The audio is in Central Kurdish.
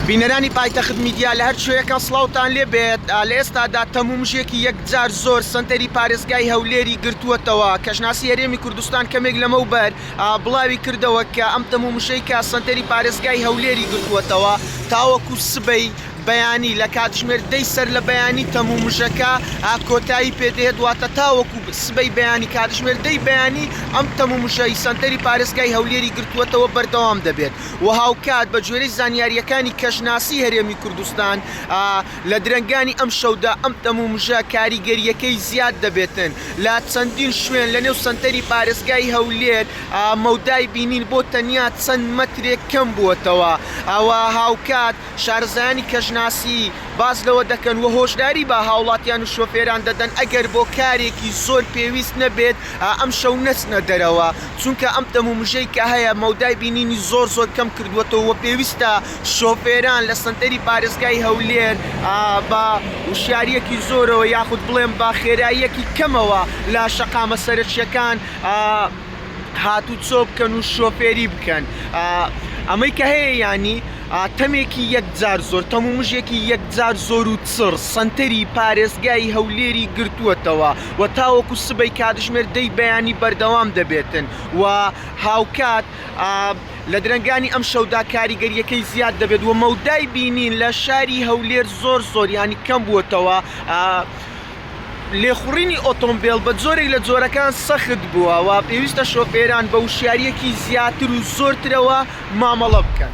بینەرانی پایتەخت میدیا لە هەر کوێیەکە سڵاوتان لێ بێت، لە ئێستادا تەمومژێکی یەکجار زۆر سەنتەری پارێزگای هەولێری گرتووەتەوە، کەشناسی هەرێمی کوردستان کەمێک لەمەوبەر بڵاوی کردەوە کە ئەم تەمومژەی کە سەنتەری پارێزگای هەولێری گرتووەتەوە تاوەکو سبەی بەیانی لە کاتژمێر دەی سەر لە بەیانی تەمومژەکە کۆتایی پێ دێت واتە تاوەکو سبەی بەیانی کاتژمێر دەی بەیانی ئەم تەمومژەی سەنتەری پارێزگای هەولێری گرتووەتەوە بەردەوام دەبێت. و هاوکات بە گوێرەی زانیارییەکانی کەشناسی هەرێمی کوردستان لە درەنگانی ئەمشەودا ئەم تەمومژە کاریگەرییەکەی زیاد دەبێتن لە چەندین شوێن لە نێو سەنتەری پارێزگای هەولێر مەودای بینین بۆ تەنیا چەند مەترێک کەم بووەتەوە و هاوکات شارەزایانی کەشناسی باس لەوە دەکەن و هۆشداری بە هاوڵاتیان و شۆفێران دەدەن ئەگەر بۆ کارێکی زۆر پێویست نەبێت ئەمشەو نەچنە دەرەوە چونکە ئەم تەم و مژەی کە هەیە مەودای بینینی زۆر زۆر کەم کردووەتەوە و پێویستە شۆفێران لە سەنتەری پارێزگای هەولێر بە وشیارییەکی زۆرەوە یاخود بڵێم بە خێراییەکی کەمەوە لە شەقامە سەرەکییەکان هاتوچۆ بکەن و شۆفێری بکەن ئەمەی کە هەیە ینی تەمێکی یەکجار زۆر تەم و مژێکی یەکجار زۆر و چڕ سنتەری پارێزگای هەولێری گرتووەتەوە و تاوەکو سبەی کاتژمێر دەی بەیانی بەردەوام دەبێتن و هاوکات لە درنگانی ئەم شەودا کاریگەریەکەی زیاد دەبێت و مەودای بینین لە شاری هەولێر زۆر زۆر ینی کەم بووەتەوە. لێخوڕینی ئۆتۆمبێل بە جۆرێک لە جۆرەکان سەخت بووە و پێویستە شۆفێران بە وشیارییەکی زیاتر و زۆرترەوە مامەڵە بکەن.